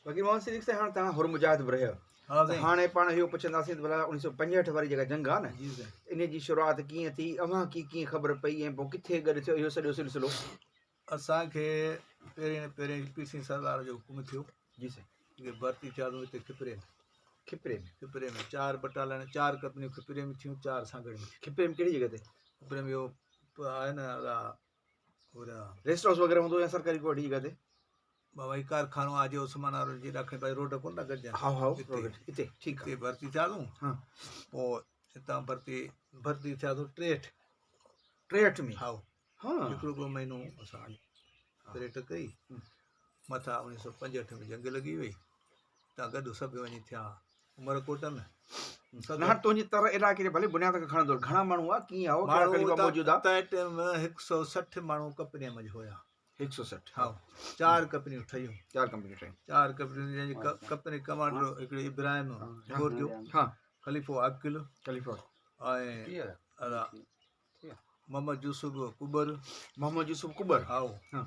فقير محمد صديق سائين هاڻ توهان حر مجاهد به رهيا ها سائين هاڻي پاڻ اهو پڇنداسين ته ڀلا اوڻيهه سؤ پنجهٺ واري جيڪا جنگ آهي نه جي سائين ان جي شروعات ڪيئن ٿي اوهان کي ڪيئن خبر پئي ۽ پوء ڪٿي گڏ ٿيو اهو سڄو سلسلو اسان کي پهرين پهرين پي سي سردار جو حڪم ٿيو جي سائين جيڪي ڀرتي ٿيا سو هتي کپري ۾ کپري ۾ کپري ۾ چار بٽالن چار ڪمپنيون کپري ۾ ٿيون چار سانگهڙ ۾ ٿيون کپري ۾ ڪهڙي جڳهه تي کپري ۾ اهو آهي نه الا ريسٽ هائوس وغيره هوندو يا سرڪاري ڪو اهڙي جڳهه تي بابا هي ڪارخانو آ جي عثمان آ روڊ جي ڏاکڻي پاسي روڊ ڪون ٿا گڏجن هائو هائو هتي روڊ هتي ٺيڪ هتي آ ڀرتي ٿياسون ها پوء هتان ڀرتي ڀرتي ٿياسون ٽيهٺ ٽيهٺ ۾ هائو ها هڪڙو ٻه مهينو اسان ٽريٽ ڪئي مٿا اڻيهه سؤ پنجهٺ ۾ جنگ لڳي وئي تان گڏ سڀ وڃي ٿيا عمر ڪوٽن نه هاڻ تنهنجي تر علائقي جي ڀلي بنياد کي کڻندو گهڻا ماڻهو هئا ڪيئن هئا ڪهڙا قليبا موجود هئا تنهن ٽائيم 160 ماڻهو ڪپني ۾ هيا 160 ها چار ڪپنيون ٺهيون چار ڪمپنيون ٺهيون چار ڪپنيون جن جي ڪپني ڪمانڊر هڪڙي ابراهيم گورجو ها خليفو عاقل خليفو ۽ محمد يوسف ڪٻر، محمد يوسف ڪٻر، هائو، هن،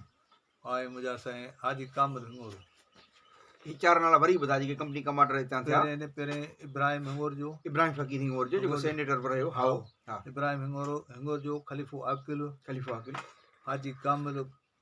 آء مجا سائين حاجي ڪامل هڱورو. هي چار نالا وري ٻڌا جيڪي ڪمپني ڪمانڊر هتان ٿيا. پهرين هن پهرين ابراهيم هڱورجو، ابراهيم فقير هڱورجو جيڪو سينيٽر به رهيو، هائو، ها. ابراهيم هڱورو، هڱورجو، خليفو عاقل، خليفو عاقل. حاجي ڪامل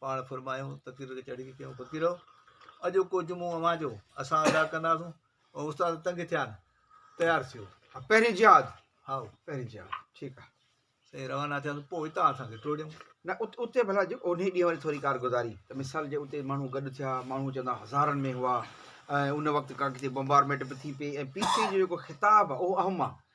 پاڻ فرمايائون، تقرير کي چڙهي ڪيون، فقيرو! اڄوڪو جمعو اوهان جو، اسان ادا ڪنداسون. استاد تنگ ٿيا آهن، تيار ٿيو. ها، پهرين جهاد. هائو، پهرين جهاد. ٺيڪ آهي. سائين روانه ٿياسون، پوء هتان اسان کي ٽوڙيو. نه، اتي ڀلا جي انهي ڏينهن واري ٿوري ڪارگذاري ته مثال جي اتي ماڻهو گڏ ٿيا، ماڻهو چوندا هزارن ۾ هئا ۽ ان وقت ڪا ڪٿي بمبارميٽ به ٿي پئي ۽ پي سي جي جيڪو خطاب آهي اهو اهم آهي.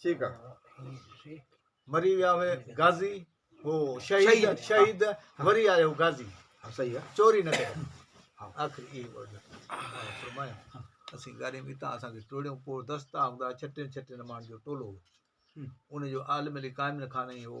ٺيڪ آ مري ويا هئي غازي هو شهيد شهيد وري آيو غازي صحيح آ چوري نه ڪري آخر اي ورد فرمايا اسين گاري ميتا اسان کي ٽوڙيو پو دستا هوندا ڇٽين ڇٽين مان جو ٽولو ان جو عالم علي قائم نه کاني هو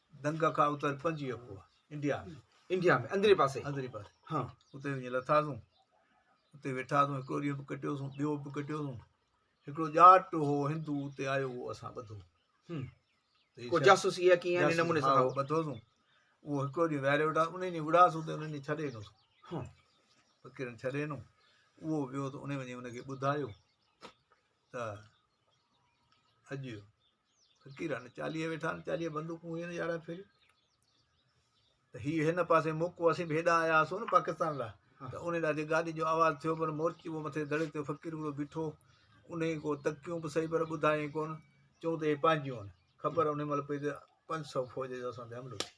دنگه کان اتر پنجويهه ڪوهه انڊيا ۾. انڊيا ۾، اندرين پاسي. اندرين پاسي. ها. اتي وڃي لٿاسون. اتي ويٺاسون هڪڙو ڏينهن به ڪٽيوسون ٻيو به ڪٽيوسون. هڪڙو ڄاٽ هو هندو اتي آيو اهو اسان ٻڌو. هم. ڪو جاسوسي يا ڪيئن ان نموني سان هو. ٻڌوسون. اهو هڪڙو ڏينهن ويهاري ويٺاسون ان ڏينهن وڙهاسون ته ان ڏينهن ڇڏي ڏنوسون. ها. فقيرن ڇڏي ڏنو. اهو ويو ته ان وڃي ان کي ٻڌايو ته اڄ فقير آهن چاليهه ويٺا آهن چاليهه بندوقون هيون يارهن ڦريون ته هي هن پاسي موقعو اسين به هيڏانهن آيا هئاسون نه پاڪستان لاء ته ان ڏاڍي گاڏي جو آواز ٿيو پر مورچي هو مٿي دڙي تي فقير هڪڙو بيٺو ان جي ڪو تڪيون به صحيح پر ٻڌايائين ڪونه چون ته هي پنهنجيون آهن خبر ان مهل پئي ته پنج سؤ فوج جو اسان تي حملو ٿي ويو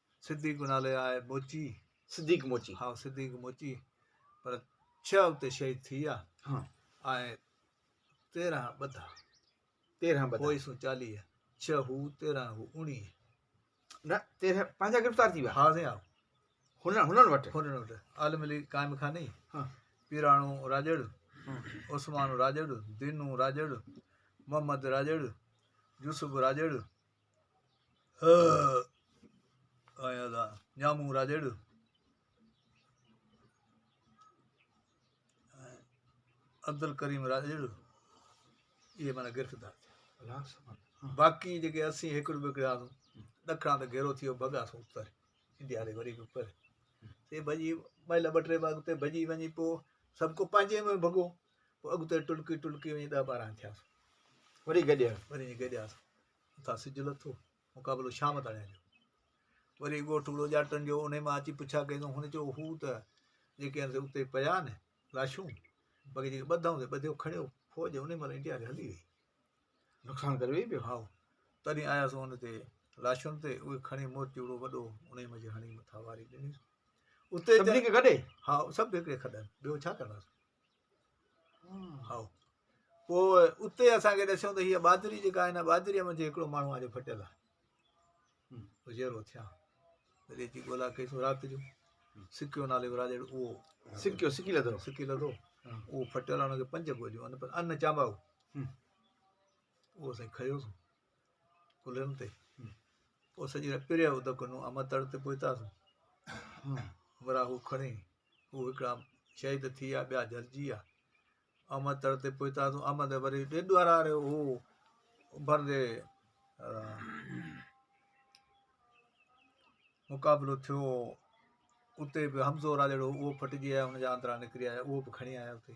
صديق نالي آء موچي. صديق موچي. ها صديق موچي پر ڇهه اتي شهيد ٿي ويا. ها. ۽ تيرهن ٻڌا. تيرهن ٻڌا. پوء سون چاليهه. ڇهه هو تيرهن هو اوڻيهه. نه تيرهن پنهنجا گرفتار ٿي ويا. ها سائين ها. هنن هنن وٽ. هنن وٽ عالم علي قائم خاني. ها. پيراڻو راڄڙ. ها. عثمان راڄڙ. دينو راڄڙ. محمد راڄڙ. يوسف راڄڙ. هه هه آيان ٿا ڄامون راڄڙ ۽ عبدالڪريم راڄڙ اهي معنيٰ گرفتار ٿيا باقي جيڪي اسين هڪڙ ٻڪڙ آسون ڏکڻا ته گهيرو ٿيو ڀڳاسون اتر انڊيا ڏي وري به پر سي ڀڄي مهل ٻه ٽي ڀڳ اتي ڀڄي وڃي پوء سڀ ڪو پنهنجي ۾ ڀڳو پوء اڳتي ٽلڪي ٽلڪي وڃي ڏهه ٻارهن ٿياسون. وري گڏيا. وري وڃي گڏياسون. اتان سج لٿو. مقابلو شام تاڻي جو. وري ڳوٺ وڙو ڄاٽن جو انهي مان اچي پڇا ڪئي ته هن چيو هو ته جيڪي هن اتي پيا نه لاشون باقي جيڪي ٻڌائون تي ٻڌيو کڻيو فوج انهي مهل انڊيا کي هلي وئي نقصان ڪري وئي پيو هائو تڏهن آياسون هن تي لاشن تي اهي کڻي مورچي وڙو وڏو انهي مان جي هڻي مٿا واري ڏنيسون اتي سڀني کي گڏي ها سڀ هڪڙي کڏن ٻيو ڇا ڪنداسون پوء اتي اسان کي ڏسيو ته هيء بادري جيڪا آهي هن بادريء منجهه هڪڙو ماڻهو آ جو ڦٽيل آ اجهيرو ٿيا وري اچي ڳولا ڪئي سو رات جو سکيو نالي ورا جهڙو اهو سکيو سکي لڌو سکي لڌو اهو ڦٽيل آ هنکي پنج گوجو ان پر ان چانباو اهو سائين کيو سو ڪلهن تي پوء سڄي رات پريو ادڪ نو اما تڙ تي پهتاسون ورا هو کڻي هو هڪڙا شهيد ٿي ويا ٻيا جلجي ويا احمد تڙ تي پهتا تون احمد وري ڏيڍ وارا رهيو هو اڀرن جي مقابلو ٿيو اتي به حمزو راڄڙو اهو ڦٽجي آيو هن جا آندرا نڪري آيا اهو به کڻي آيا اتي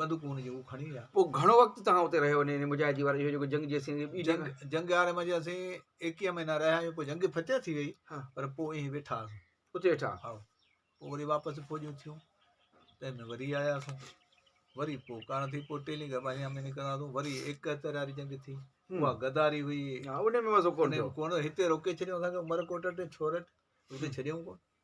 بندوقون هن جون هو کڻي ويا. پوء گهڻو وقت توهان اتي رهيو نئين نئين مجاهدي وارا اهو جيڪو جنگ جي اسين ٻي جنگ جنگ جنگ هاري منجهه اسين ايڪيهه مهينا رهيا آهيون پوء جنگ فتح ٿي وئي ها. پر پوء ائين ويٺا هئاسون اتي ويٺا ها پوء وري واپس فوجون ٿيون تنهن ۾ وري آياسون وري پوء ڪاڻ ٿي پوء ٽيلي گا ٻاريان ۾ نڪتاسون وري ايڪهتر واري جنگ ٿي هم. اها غداري هئي ها ان ۾ مزو ڪون ٿيو. ڪونه هتي روڪي ڇڏيائون اسان کي عمرڪوٽ ۽ ڇورٽ اتي ڇڏيائون ڪون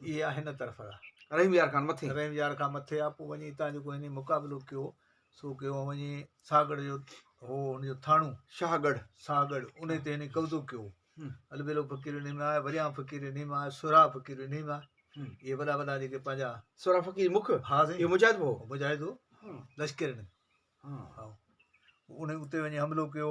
اها هن طرف آ. رحيم يار کان مٿي. رحيم يار کان مٿي آ. پوء وڃي هتان جيڪو هنن مقابلو ڪيو سو ڪيو ۽ وڃي ساهڳڙهه جو هو ان جو ٿاڻو. شاهڳڙهه. شاهڳڙهه. انهي تي هنن قبضو ڪيو. البيلو فقير انهي ۾ آ. وريان فقير انهي مان آ. سهراب فقير انهي مان آ. اهي وڏا وڏا جيڪي پنهنجا. سهراب فقير مک. ها سائين. اهو مجاهد به هو. مجاهد هو. لشڪر هنن. هائو. انهي اتي وڃي حملو ڪيو.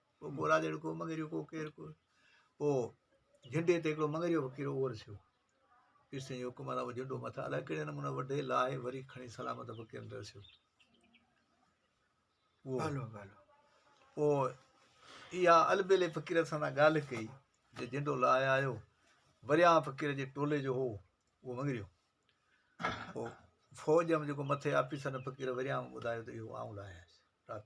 پوء گورا تي هڪڙو مڱريو ڪو ڪير ڪو پوء جهنڊي تي هڪڙو مڱريو فقير اهو رسيو پير سائين جي حڪم سان اهو جهنڊو مٿان الائي ڪهڙي نموني وڍي لاهي وري کڻي سلامت فقيرن تي رسيو پوء اها البيلي فقير سان ڳالهه ڪئي جو جهنڊو لاهي آيو وريان فقير جي ٽولي جو هو اهو مڱريو پوء فوج ۾ جيڪو مٿي آفيسر فقير وريان ٻڌايو ته اهو آئون لاهيس رات